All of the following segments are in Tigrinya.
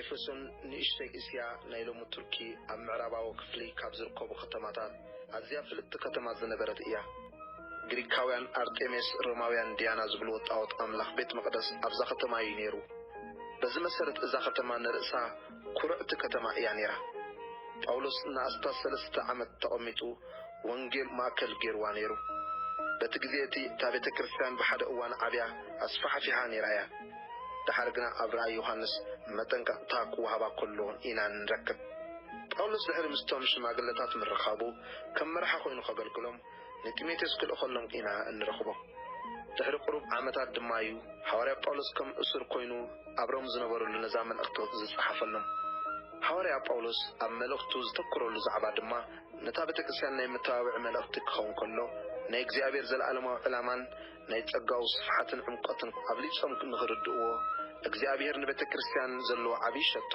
ኤፌሶን ንእሽቶይ እስያ ናይ ሎሚ ቱርኪ ኣብ ምዕራባዊ ክፍሊ ካብ ዝርከቡ ከተማታት ኣዝያ ፍልጥቲ ከተማ ዝነበረት እያ። ግሪካውያን ኣርጤሜስ ሮማውያን ድያና ዝብልዎ ጣኦት ኣምላኽ ቤት መቕደስ ኣብዛ ከተማ እዩ ነይሩ። በዚ መሰረት እዛ ከተማ ንርእሳ ኩርዕቲ ከተማ እያ ነይራ። ጳውሎስ ንኣስታት ሰለስተ ዓመት ተቐሚጡ። ወንጌል ማእከል ገይርዋ ነይሩ። በቲ ግዜ እቲ እታ ቤተ ክርስቲያን ብሓደ እዋን ዓብያ ኣስፋሕፊሓ ነይራ ኢያ። ደሓር ግና ኣብ ራእይ ዮሃንስ መጠንቀቕታ ክወሃባ ከሎ ኢና እንረክብ። ጳውሎስ ድሕሪ ምስቶም ሽማግለታት ምርኻቡ ከም መራሒ ዀይኑ ኸገልግሎም ንጢሞቴዎስ ክልእኸሎም ኢና እንረኽቦ። ድሕሪ ቕሩብ ዓመታት ድማ ኢዩ ሃዋርያ ጳውሎስ ከም እሱር ኰይኑ ኣብ ሮም ዝነበረሉ ነዛ መልእኽቲ ዝጸሓፈሎም። ሃዋርያ ጳውሎስ ኣብ መልእኽቱ ዘተኵረሉ ዛዕባ ድማ ነታ ቤተክርስትያን ናይ መተባብዒ መልእኽቲ ክኸውን ከሎ፣ ናይ እግዚኣብሔር ዘለዓለማዊ ዕላማን ናይ ጸጋኡ ስፍሓትን ዕምቆትን ኣብሊጾም ንኽርድእዎ፣ እግዚኣብሔር ንቤተክርስትያን ዘለዎ ዓቢይ ሸቶ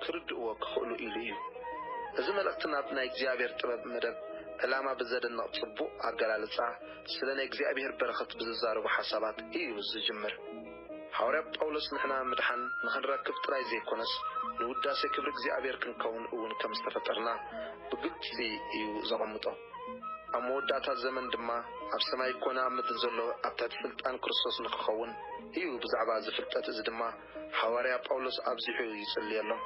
ክርድእዎ ክኽእሉ ኢሉ እዩ። እዚ መልእኽቲ ናብ ናይ እግዚኣብሔር ጥበብ መደብ ዕላማ ብዘደንቕ ጽቡቕ ኣገላልጻ ስለ ናይ እግዚኣብሔር በረኸት ብዝዛረቡ ሓሳባት እዩ ዝጅምር። ሃዋርያ ጳውሎስ ንሕና ምድሓን ንኽንረክብ ጥራይ ዘይኰነስ ንውዳሴ ክብሪ እግዚኣብሔር ክንከውን እውን ከም ዝተፈጠርና ብግልጺ ኢዩ ዘቐምጦ። ኣብ መወዳእታ ዘመን ድማ ኣብ ሰማይ ኰነ ኣብ ምድሪ ዘሎ ኣብ ትሕቲ ስልጣን ክርስቶስ ንኽኸውን ኢዩ ብዛዕባ እዚ ፍልጠት እዚ ድማ ሃዋርያ ጳውሎስ ኣብዚሑ ይጽልየሎም።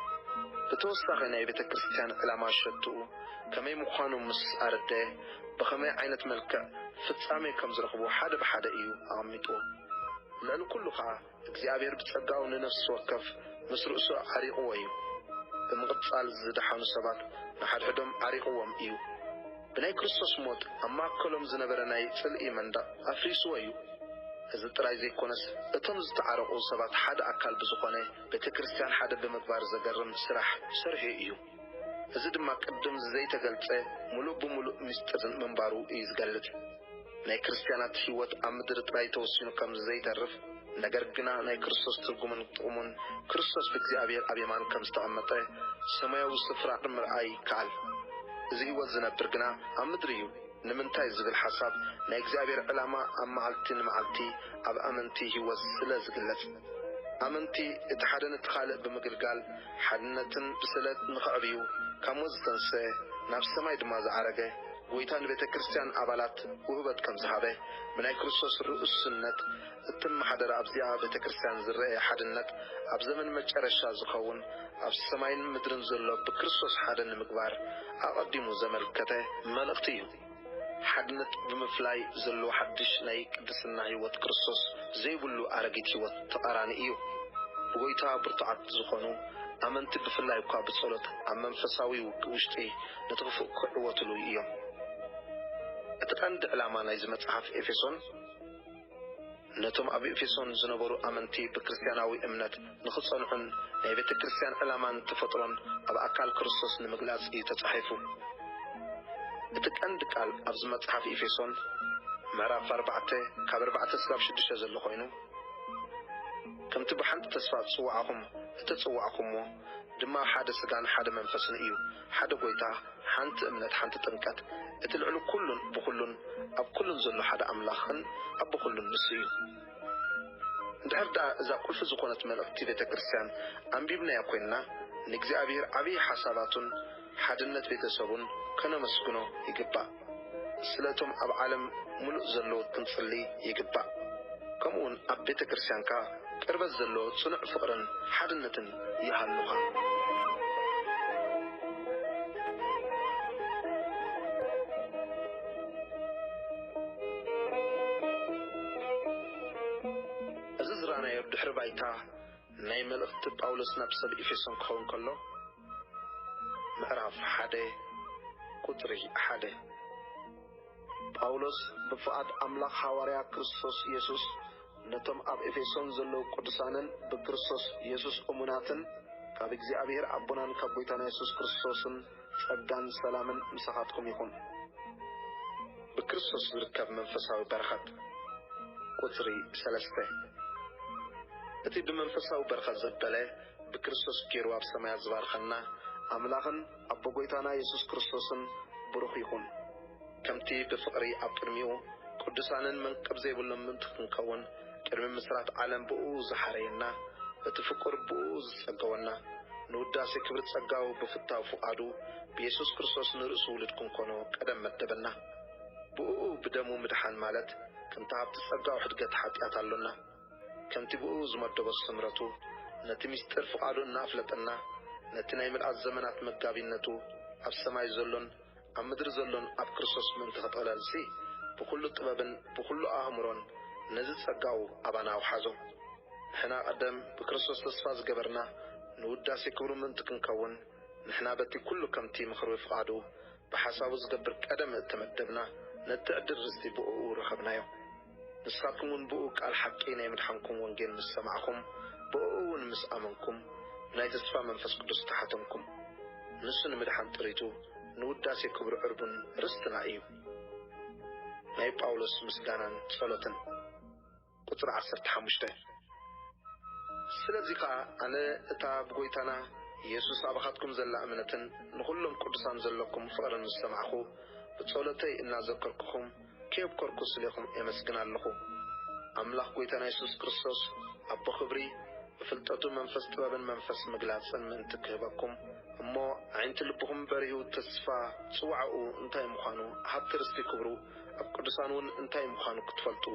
ብተወሳኺ ናይ ቤተ ክርስቲያን ዕላማ ሸቶኡ ከመይ ምዃኑ ምስ ኣረደየ፣ ብኸመይ ዓይነት መልክዕ ፍጻሜ ከም ዝረኽቡ ሓደ ብሓደ እዩ ኣቐሚጥዎም። ልዕሊ ኩሉ ከኣ እግዚኣብሔር ብጸጋኡ ንነፍሲ ወከፍ ምስ ርእሱ ዓሪቕዎ እዩ። ብምቕጻል ዝደሓኑ ሰባት ንሓድሕዶም ዓሪቕዎም እዩ። ብናይ ክርስቶስ ሞት ኣብ ማእከሎም ዝነበረ ናይ ጽልኢ መንደቕ ኣፍሪስዎ እዩ። እዚ ጥራይ ዘይኮነስ እቶም ዝተዓረቑ ሰባት ሓደ ኣካል ብዝኾነ ቤተክርስትያን ሓደ ብምግባር ዘገርም ስራሕ ሰርሑ እዩ። እዚ ድማ ቅድም ዝዘይተገልጸ ምሉእ ብምሉእ ምስጢር ምንባሩ እዩ ዝገልጽ። ናይ ክርስትያናት ሕይወት ኣብ ምድሪ ጥራይ ተወሲኑ ከም ዝዘይተርፍ፣ ነገር ግና ናይ ክርስቶስ ትርጉምን ጥቕሙን፣ ክርስቶስ ብእግዚኣብሔር ኣብ የማን ከም ዝተቐመጠ ሰማያዊ ስፍራ ምርኣይ ይከኣል። እዚ ሕይወት ዝነብር ግና ኣብ ምድሪ እዩ። ንምንታይ ዝብል ሓሳብ ናይ እግዚኣብሔር ዕላማ ኣብ መዓልቲ ንመዓልቲ ኣብ ኣመንቲ ሕይወት ስለ ዝግለጽ። ኣመንቲ እቲ ሓደ ነቲ ካልእ ብምግልጋል ሓድነትን ብስለት ንኸዕብዩ ካብ ሞት ዝተንስኤ ናብ ሰማይ ድማ ዝዓረገ ጎይታ ንቤተ ክርስቲያን ኣባላት ውህበት ከም ዝሃበ ብናይ ክርስቶስ ርኡስነት እትመሓደር ኣብዚኣ ቤተ ክርስቲያን ዝረኤ ሓድነት ኣብ ዘመን መጨረሻ ዝኸውን ኣብ ሰማይን ምድርን ዘሎ ብክርስቶስ ሓደ ንምግባር ኣቐዲሙ ዘመልከተ መልእኽቲ እዩ። ሓድነት ብምፍላይ ዘሎ ሓድሽ ናይ ቅድስና ሕይወት ክርስቶስ ዘይብሉ ኣረጊት ሕይወት ተቃራኒ እዩ። ብጐይታ ብርቱዓት ዝኾኑ ኣመንቲ ብፍላይ እኳ ብጸሎት ኣብ መንፈሳዊ ውግእ ውሽጢ ነቲ ክፉእ ክዕወትሉ እዮም። እቲ ቀንዲ ዕላማ ናይዚ መጽሓፍ ኤፌሶን፣ ነቶም ኣብ ኤፌሶን ዝነበሩ ኣመንቲ ብክርስትያናዊ እምነት ንኽጸንዑን ናይ ቤተ ክርስትያን ዕላማን ተፈጥሮን ኣብ ኣካል ክርስቶስ ንምግላጽ እዩ ተጻሒፉ። እቲ ቀንዲ ቃል ኣብዚ መጽሓፍ ኤፌሶን ምዕራፍ ኣርባዕተ ካብ ኣርባዕተ ስጋብ ሽዱሽተ ዘሎ ኮይኑ ከምቲ ብሓንቲ ተስፋ ዝጽውዓኹም እተጸዋዕኩምዎ ድማ ሓደ ስጋን ሓደ መንፈስን እዩ። ሓደ ጎይታ፣ ሓንቲ እምነት፣ ሓንቲ ጥምቀት፣ እቲ ልዕሊ ኩሉን ብኹሉን ኣብ ኩሉን ዘሎ ሓደ ኣምላኽን ኣቦ ኩሉን ንሱ እዩ። እንድሕር ደኣ እዛ ቁልፊ ዝኾነት መልእኽቲ ቤተ ክርስቲያን ኣንቢብናያ ኮይንና ንእግዚኣብሔር ዓቢይ ሓሳባቱን ሓድነት ቤተሰቡን ከነመስግኖ ይግባእ። ስለቶም ኣብ ዓለም ምሉእ ዘለዉ ክንጽሊ ይግባእ። ከምኡውን ኣብ ቤተ ክርስቲያንካ ቅርበት ዘለዎ ጽኑዕ ፍቕርን ሓድነትን ይሃሉኻ። እዚ ዝረኣናዮ ድሕሪ ባይታ ናይ መልእኽቲ ጳውሎስ ናብ ሰብ ኤፌሶን ክኸውን ከሎ፣ ምዕራፍ ሓደ ቁጽሪ ሓደ ጳውሎስ ብፍቓድ ኣምላኽ ሃዋርያ ክርስቶስ የሱስ ነቶም ኣብ ኤፌሶን ዘለዉ ቅዱሳንን ብክርስቶስ የሱስ እሙናትን ካብ እግዚኣብሄር ኣቦናን ካብ ጐይታና የሱስ ክርስቶስን ጸጋን ሰላምን ምሳኻትኩም ይኹን። ብክርስቶስ ዝርከብ መንፈሳዊ በረኸት ቁጽሪ ሰለስተ እቲ ብመንፈሳዊ በረኸት ዘበለ ብክርስቶስ ጌሩ ኣብ ሰማያት ዝባርኸና ኣምላኽን ኣቦ ጐይታና የሱስ ክርስቶስን ብሩኽ ይኹን። ከምቲ ብፍቕሪ ኣብ ቅድሚኡ ቅዱሳንን መንቅብ ዘይብሎም ምእንቲ ክንከውን ቅድሚ ምስራት ዓለም ብእኡ ዝሓረየና በቲ ፍቁር ብእኡ ዝጸገወና ንውዳሴ ክብሪ ጸጋኡ ብፍታው ፍቓዱ ብየሱስ ክርስቶስ ንርእሱ ውሉድ ክንኮኖ ቀደም መደበና። ብእኡ ብደሙ ምድሓን ማለት ከምቲ ሃብቲ ጸጋኡ ሕድገት ሓጢኣት ኣሎና። ከምቲ ብእኡ ዝመደቦ ስምረቱ፣ ነቲ ምስጢር ፍቓዱ እናኣፍለጠና፣ ነቲ ናይ ምልኣት ዘመናት መጋቢነቱ፣ ኣብ ሰማይ ዘሎን ኣብ ምድሪ ዘሎን ኣብ ክርስቶስ ምእንቲ ኸጠቕለልሲ፣ ብዅሉ ጥበብን ብዅሉ ኣእምሮን ነዚ ጸጋኡ ኣባና ኣውሓዞ። ንሕና ቐደም ብክርስቶስ ተስፋ ዝገበርና፣ ንውዳሴ ክብሩ ምእንቲ ክንከውን፣ ንሕና በቲ ኵሉ ከምቲ ምኽሪ ፍቓዱ ብሓሳቡ ዝገብር ቀደም እተመደብና፣ ነቲ ዕድል ርስቲ ብእኡ ረኸብናዮ። ንሳኩምውን ብእኡ ቃል ሓቂ ናይ ምድሓንኩም ወንጌል ምስ ሰማዕኩም ብእኡውን ምስ ኣመንኩም ናይ ተስፋ መንፈስ ቅዱስ ተሓተምኩም። ንሱ ንምድሓን ጥሪቱ ንውዳሴ ክብሩ ዕርቡን ርስትና እዩ። ናይ ጳውሎስ ምስጋናን ጸሎትን። ቁጽሪ ዓሰርተ ሓሙሽተ ስለዚ ከኣ ኣነ እታ ብጐይታና የሱስ ኣባኻትኩም ዘላ እምነትን ንኹሎም ቅዱሳን ዘሎኩም ፍቕርን ምስ ሰማዕኩ ብጸሎተይ እናዘከርኩኹም ኬብ ከርኩ ስሌኹም ኤመስግን ኣለኹ ኣምላኽ ጎይታና የሱስ ክርስቶስ ኣቦ ክብሪ ብፍልጠቱ መንፈስ ጥበብን መንፈስ ምግላጽን ምእንቲ ክህበኩም እሞ ኣዒንቲ ልብኹም በሪሁ ተስፋ ጽውዓኡ እንታይ ምዃኑ ሃብቲ ርስቲ ክብሩ ኣብ ቅዱሳን ውን እንታይ ምዃኑ ክትፈልጡ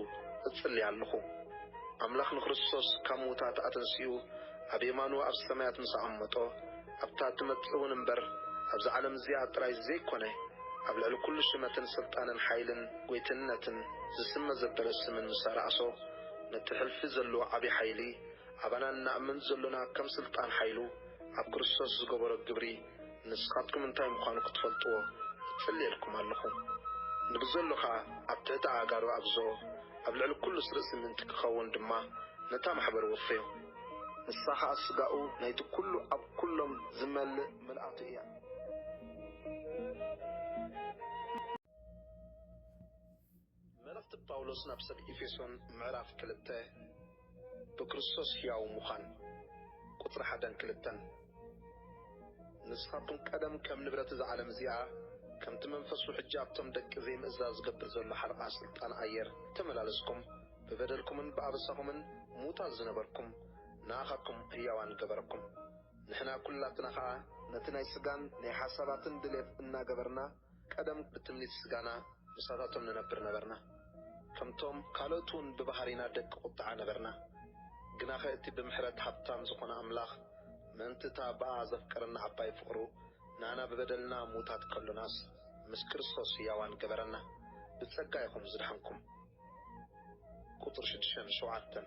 እጽሊ ኣለኹ ኣምላኽ ንክርስቶስ ካብ ምዉታት ኣተንሲኡ ኣብ የማኑ ኣብ ሰማያት ምስ ኣቐመጦ ኣብታ እትመጽእውን እምበር ኣብዛ ዓለም እዚኣ ጥራይ ዘይኰነ፣ ኣብ ልዕሊ ኵሉ ሽመትን ስልጣንን ሓይልን ጐይትነትን ዝስመ ዘበለ ስምን ምስ ኣርኣሶ፣ ነቲ ሕልፊ ዘሎ ዓቢ ሓይሊ፣ ኣባና እንኣምን ዘሎና ከም ስልጣን ሓይሉ ኣብ ክርስቶስ ዝገበሮ ግብሪ ንስኻትኩም እንታይ ምዃኑ ክትፈልጥዎ እጽልየልኩም ኣሎኹ። ንብዘሎ ኸኣ ኣብ ትሕቲ ኣእጋሩ ኣግዝኦ፣ ኣብ ልዕሊ ኵሉስ ርእሲ ምእንቲ ኪኸውን ድማ ነታ ማሕበር ወፈዮ። ንሳ ኸኣ ስጋኡ ናይቲ ኵሉ ኣብ ኵሎም ዝመልእ ምልኣቱ እያ። መልእኽቲ ጳውሎስ ናብ ሰብ ኤፌሶን ምዕራፍ ክልተ ብክርስቶስ ሕያው ምዃን ቁጽሪ ሓደን ክልተን። ንስኻቱም ቀደም ከም ንብረት እዛ ዓለም እዚኣ፣ ከምቲ መንፈሱ ሕጂ ኣብቶም ደቂ ዘይምእዛዝ ዝገብር ዘሎ ሓለቓ ስልጣን ኣየር ተመላለስኩም፣ ብበደልኩምን ብኣበሳኹምን ምዉታት ዝነበርኩም፣ ንኣኻትኩም ህያዋን ገበረኩም። ንሕና ኩላትና ኸኣ፣ ነቲ ናይ ስጋን ናይ ሓሳባትን ድሌት እናገበርና፣ ቀደም ብትምኒት ስጋና ምሳታቶም ንነብር ነበርና፣ ከምቶም ካልኦት'ውን ብባህሪና ደቂ ቁጥዓ ነበርና። ግናኸ እቲ ብምሕረት ሃብታም ዝኾነ ኣምላኽ ምእንቲ እታ ብኣኣ ዘፍቀረና ዓባይ ፍቕሩ ንኣና ብበደልና ምዉታት ከሎናስ ምስ ክርስቶስ ህያዋን ገበረና። ብጸጋ ኢኹም ዝደሓንኩም። ቁጽሪ ሽዱሽተን ሸውዓተን።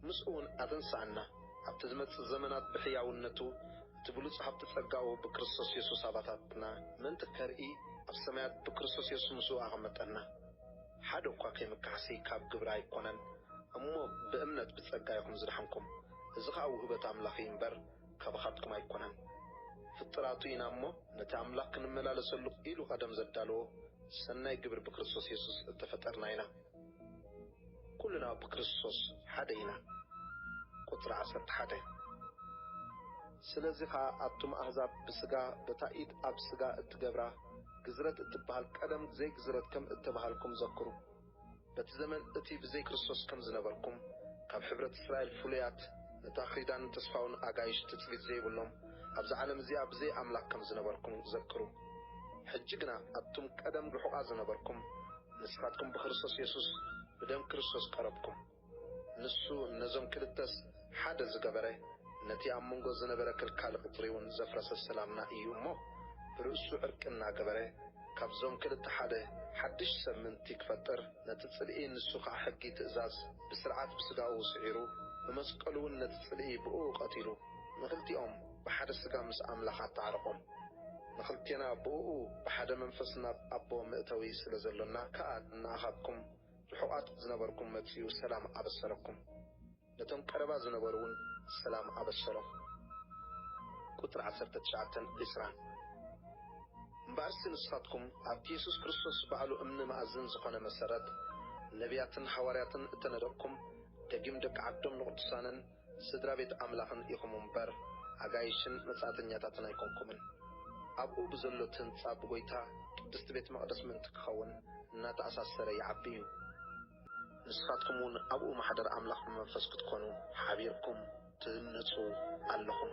ምስኡውን ኣተንስኣና፣ ኣብቲ ዝመጽእ ዘመናት ብሕያውነቱ፣ እቲ ብሉጽ ሃብቲ ጸጋኡ ብክርስቶስ የሱስ ኣባታትና ምእንቲ ከርኢ፣ ኣብ ሰማያት ብክርስቶስ የሱስ ምስኡ ኣቐመጠና። ሓደ እኳ ከይምካሕሲ ካብ ግብሪ ኣይኮነን፣ እሞ ብእምነት ብጸጋ ኢኹም ዝደሓንኩም፣ እዚ ኸኣ ውህበት ኣምላኽ እዩ እምበር፣ ካባኻትኩም ኣይኮነን። ፍጥራቱ ኢና እሞ፣ ነቲ ኣምላኽ ክንመላለሰሉ ኢሉ ቐደም ዘዳለዎ ሰናይ ግብሪ ብክርስቶስ የሱስ እተፈጠርና ኢና። ኩልና ብክርስቶስ ሓደ ኢና ቁጽሪ ዓሰርተ ሓደ ስለዚ ከኣ ኣቱም ኣህዛብ ብስጋ በታ ኢድ ኣብ ስጋ እትገብራ ግዝረት እትበሃል ቀደም ዘይ ግዝረት ከም እተባሃልኩም ዘክሩ በቲ ዘመን እቲ ብዘይ ክርስቶስ ከም ዝነበርኩም ካብ ሕብረት እስራኤል ፍሉያት ነታ ኺዳን ተስፋውን ኣጋይሽ ትጽቢት ዘይብሎም ኣብዛ ዓለም እዚኣ ብዘይ ኣምላክ ከም ዝነበርኩም ዘክሩ ሕጂ ግና ኣቱም ቀደም ርሑቃ ዝነበርኩም ንስኻትኩም ብክርስቶስ የሱስ ብደም ክርስቶስ ቀረብኩም። ንሱ ነዞም ክልተስ ሓደ ዝገበረ ነቲ ኣብ መንጎ ዝነበረ ከልካሊ ቅጽሪውን ዘፍረሰ ሰላምና እዩ እሞ ብርእሱ ዕርቂ እናገበረ ካብዞም ክልተ ሓደ ሓድሽ ሰብ ምእንቲ ክፈጥር ነቲ ጽልኢ ንሱ ከኣ ሕጊ ትእዛዝ ብስርዓት ብስጋኡ ስዒሩ ብመስቀሉውን ነቲ ጽልኢ ብእኡ ቀቲሉ ንክልቲኦም ብሓደ ስጋ ምስ ኣምላኽ ኣተዓረቖም። ንኽልቴና ብእኡ ብሓደ መንፈስ ናብ ኣቦ መእተዊ ስለ ዘሎና ከኣ ንኣኻትኩም ርሑቓት ዝነበርኩም መጺኡ ሰላም ኣበሰረኩም። ነቶም ቀረባ ዝነበሩውን ሰላም ኣበሰሮም። ቁጽሪ ዓሰርተ ትሽዓተን ዕስራን። እምበኣርሲ ንስኻትኩም ኣብቲ የሱስ ክርስቶስ ባዕሉ እምኒ መኣዝን ዝኾነ መሰረት፣ ነብያትን ሓዋርያትን እተነደቕኩም፣ ደጊም ደቂ ዓዶም ንቕዱሳንን፣ ስድራ ቤት ኣምላኽን ኢኹም እምበር፣ ኣጋይሽን መጻእተኛታትን ኣይኰንኩምን። ኣብኡ ብዘሎ እቲ ህንጻ ብጐይታ ቅድስቲ ቤት መቕደስ ምእንቲ ኪኸውን እናተኣሳሰረ ይዓቢ እዩ። ንስኻትኩም እውን ኣብኡ ማሕደር ኣምላኽ ብመንፈስ ክትኰኑ ሓቢርኩም ትህነጹ ኣለኹም።